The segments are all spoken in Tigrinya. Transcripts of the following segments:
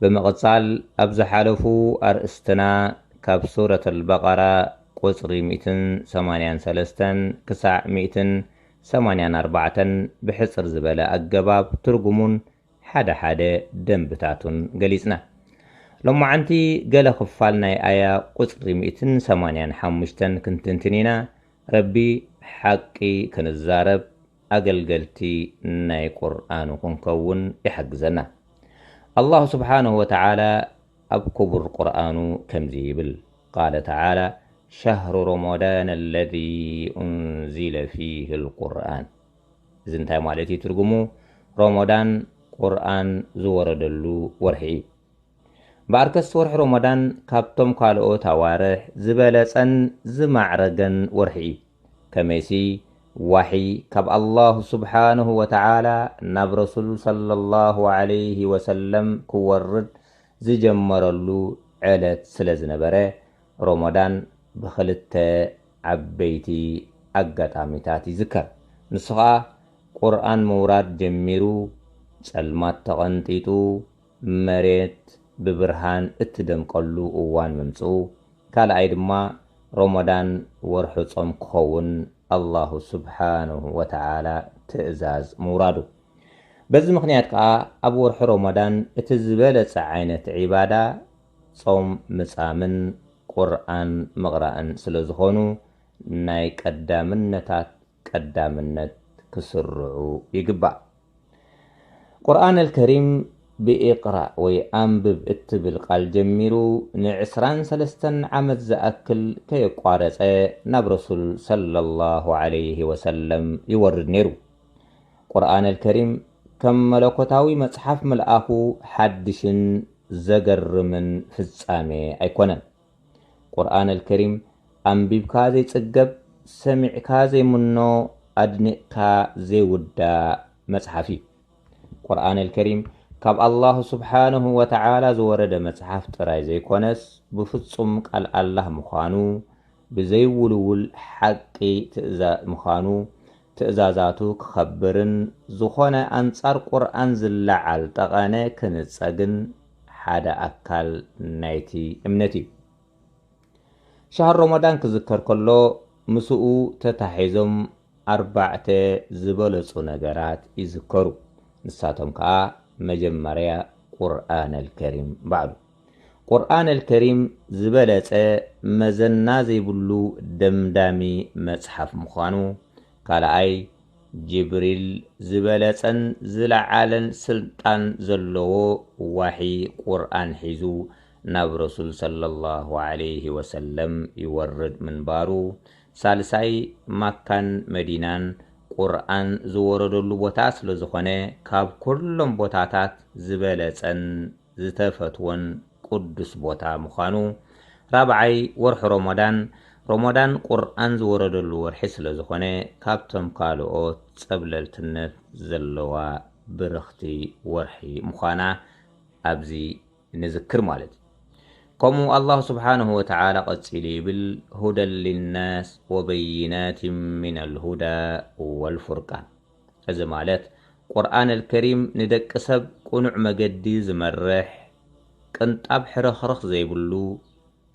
ብምቕጻል ኣብ ዝሓለፉ ኣርእስትና ካብ ሱረት ኣልበቀራ ቁጽሪ ሚእትን ሰማንያን ሰለስተን ክሳዕ ሚእትን ሰማንያን ኣርባዕተን ብሕጽር ዝበለ ኣገባብ ትርጉሙን ሓደ ሓደ ደንብታቱን ገሊጽና። ሎማዓንቲ ገለ ክፋል ናይ ኣያ ቁጽሪ ሚእትን ሰማንያን ሓሙሽተን ክንትንትን ኢና፣ ረቢ ሓቂ ክንዛረብ፣ ኣገልገልቲ ናይ ቁርኣኑ ክንከውን ይሓግዘና። ኣላሁ ስብሓነሁ ወተዓላ ኣብ ክቡር ቁርኣኑ ከምዚ ይብል፣ ቃለ ተዓላ፣ ሸህሩ ሮሞዳነ ለዚ ኡንዚለ ፊሂ ልቁርኣን፣ እዚ እንታይ ማለት እዩ ትርጉሙ፣ ሮሞዳን ቁርኣን ዝወረደሉ ወርሒ እዩ። እምበኣርከስ ወርሒ ሮሞዳን ካብቶም ካልኦት ኣዋርሕ ዝበለጸን ዝማዕረገን ወርሒ እዩ። ከመይሲ ዋሒ ካብ ኣላሁ ሱብሓነሁ ወተዓላ ናብ ረሱል ሰለላሁ ዓለይሂ ወሰለም ክወርድ ዝጀመረሉ ዕለት ስለዝነበረ፣ ሮሞዳን ብኽልተ ዓበይቲ ኣጋጣሚታት ይዝከር። ንሱ ኸኣ ቁርኣን ምውራድ ጀሚሩ፣ ጸልማት ተቐንጢጡ፣ መሬት ብብርሃን እትደምቀሉ እዋን ምምጽኡ፣ ካልኣይ ድማ ሮሞዳን ወርሑ ጾም ክኸውን ኣላሁ ሱብሓነሁ ወተዓላ ትእዛዝ ምውራዱ። በዚ ምኽንያት ከኣ ኣብ ወርሒ ሮሞዳን እቲ ዝበለጸ ዓይነት ዒባዳ ጾም ምጻምን ቁርኣን ምቕራእን ስለዝኾኑ ናይ ቀዳምነታት ቀዳምነት ክስርዑ ይግባእ። ቁርኣን ኣልከሪም ብኢቅራእ ወይ ኣንብብ እትብል ቃል ጀሚሩ ንዕስራን ሰለስተን ዓመት ዝኣክል ከየቋረጸ ናብ ረሱል ሰለላሁ ዓለይሂ ወሰለም ይወርድ ነይሩ። ቁርኣን ኣልከሪም ከም መለኮታዊ መጽሓፍ ምልኣኹ ሓድሽን ዘገርምን ፍጻሜ ኣይኮነን። ቁርኣን ኣልከሪም ኣንቢብካ ዘይጽገብ ሰሚዕካ ዘይምኖ ኣድኒቕካ ዘይውዳእ መጽሓፍ እዩ። ቁርኣን ኣልከሪም ካብ ኣላሁ ሱብሓነሁ ወተዓላ ዝወረደ መጽሓፍ ጥራይ ዘይኮነስ ብፍጹም ቃል ኣላህ ምዃኑ ብዘይውልውል ሓቂ ትእዛ ምዃኑ ትእዛዛቱ ክኸብርን ዝኾነ ኣንጻር ቁርኣን ዝለዓል ጠቐነ ክንጸግን ሓደ ኣካል ናይቲ እምነት እዩ። ሻህር ሮሞዳን ክዝከር ከሎ ምስኡ ተታሒዞም ኣርባዕተ ዝበለጹ ነገራት ይዝከሩ። ንሳቶም ከኣ መጀመርያ ቁርኣነልከሪም ባዕሉ። ቁርኣነል ከሪም ዝበለጸ መዘና ዘይብሉ ደምዳሚ መጽሓፍ ምዃኑ፣ ካልኣይ ጅብሪል ዝበለጸን ዝለዓለን ስልጣን ዘለዎ ዋሒ ቁርኣን ሒዙ ናብ ረሱል ሰለላሁ ዓለይሂ ወሰለም ይወርድ ምንባሩ፣ ሳልሳይ ማካን መዲናን ቁርኣን ዝወረደሉ ቦታ ስለዝኾነ ካብ ኩሎም ቦታታት ዝበለጸን ዝተፈትዎን ቅዱስ ቦታ ምዃኑ፣ ራብዓይ ወርሒ ሮሞዳን፣ ሮሞዳን ቁርኣን ዝወረደሉ ወርሒ ስለዝኾነ ካብቶም ካልኦት ጸብለልትነት ዘለዋ ብርኽቲ ወርሒ ምዃና ኣብዚ ንዝክር ማለት እዩ። ከምኡ ኣላሁ ሱብሓነሁ ወተዓላ ቀጺሉ ይብል፣ ሁደን ሊናስ ወበይናቲን ሚነል ሁዳ ወልፉርቃን። እዚ ማለት ቁርኣን ኣልከሪም ንደቂ ሰብ ቅኑዕ መገዲ ዝመርሕ፣ ቅንጣብ ሕርኽርኽ ዘይብሉ፣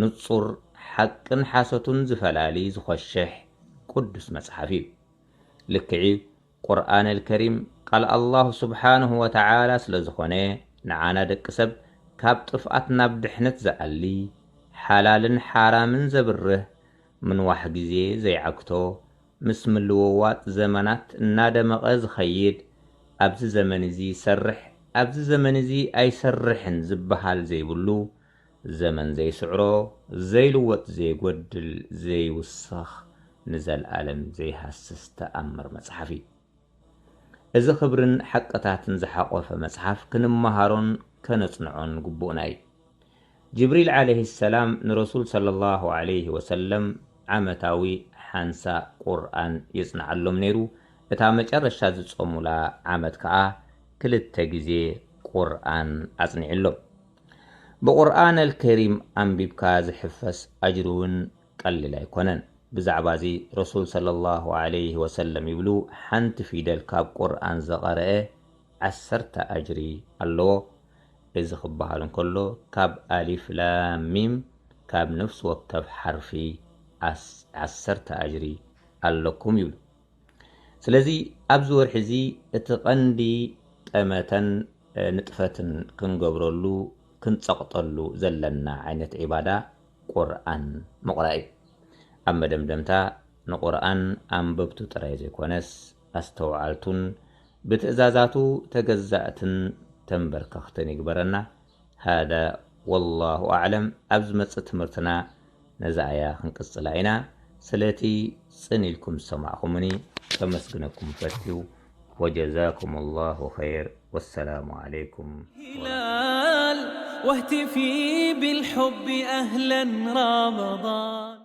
ንጹር፣ ሓቅን ሓሶትን ዝፈላሊ ዝኾሽሕ ቅዱስ መጽሓፍ እዩ። ልክዕ'ዩ ቁርኣን ኣልከሪም ቃል ኣላህ ሱብሓነሁ ወተዓላ ስለዝኾነ ንዓና ደቂ ሰብ ካብ ጥፍኣት ናብ ድሕነት ዝኣሊ፣ ሓላልን ሓራምን ዘብርህ፣ ምንዋሕ ግዜ ዘይዓግቶ፣ ምስ ምልውዋጥ ዘመናት እናደመቐ ዝኸይድ ኣብዚ ዘመን እዚ ይሰርሕ ኣብዚ ዘመን እዚ ኣይሰርሕን ዝበሃል ዘይብሉ፣ ዘመን ዘይስዕሮ፣ ዘይልወጥ ዘይጎድል ዘይውሰኽ ንዘልኣለም ዘይሃስስ ተኣምር መፅሓፍ እዩ። እዚ ክብርን ሓቅታትን ዝሓቖፈ መፅሓፍ ክንመሃሮን ከነፅንዖን ግቡእና እዩ። ጅብሪል ዓለይሂ ሰላም ንረሱል ሰለሏሁ ዓለይሂ ወሰለም ዓመታዊ ሓንሳ ቁርኣን የጽንዓሎም ነይሩ፣ እታ መጨረሻ ዝጾሙላ ዓመት ከኣ ክልተ ግዜ ቁርኣን ኣጽኒዑሎም። ብቁርኣነል ከሪም ኣንቢብካ ዝሕፈስ ኣጅሪ'ውን ቀሊል ኣይኮነን። ብዛዕባ'ዚ ረሱል ሰለሏሁ ዓለይሂ ወሰለም ይብሉ፣ ሓንቲ ፊደል ካብ ቁርኣን ዝቐረኣ፣ ዓሰርተ ኣጅሪ ኣለዎ እዚ ክበሃል እንከሎ ካብ ኣሊፍ ላም ሚም ካብ ነፍሲ ወከፍ ሓርፊ ዓሰርተ ኣጅሪ ኣለኩም ይብሉ ስለዚ ኣብዚ ወርሒ እዚ እቲ ቀንዲ ጠመተን ንጥፈትን ክንገብረሉ ክንጸቕጠሉ ዘለና ዓይነት ዒባዳ ቁርኣን ምቕራእ እዩ ኣብ መደምደምታ ንቁርኣን ኣንበብቱ ጥራይ ዘይኮነስ ኣስተውዓልቱን ብትእዛዛቱ ተገዛእትን ተምበርከኽትን ይግበረና ሃዳ ወላሁ ኣዕለም ኣብ ዝመጽእ ትምህርትና ነዛ ኣያ ክንቅጽላ ኢና ስለቲ ጽን ኢልኩም ዝሰማዕኹሙኒ ከመስግነኩም ፈትዩ ወጀዛኩሙላሁ ኸይር ወሰላሙ ዓለይኩም ወረሕመቱላሂ ወበረካቱ።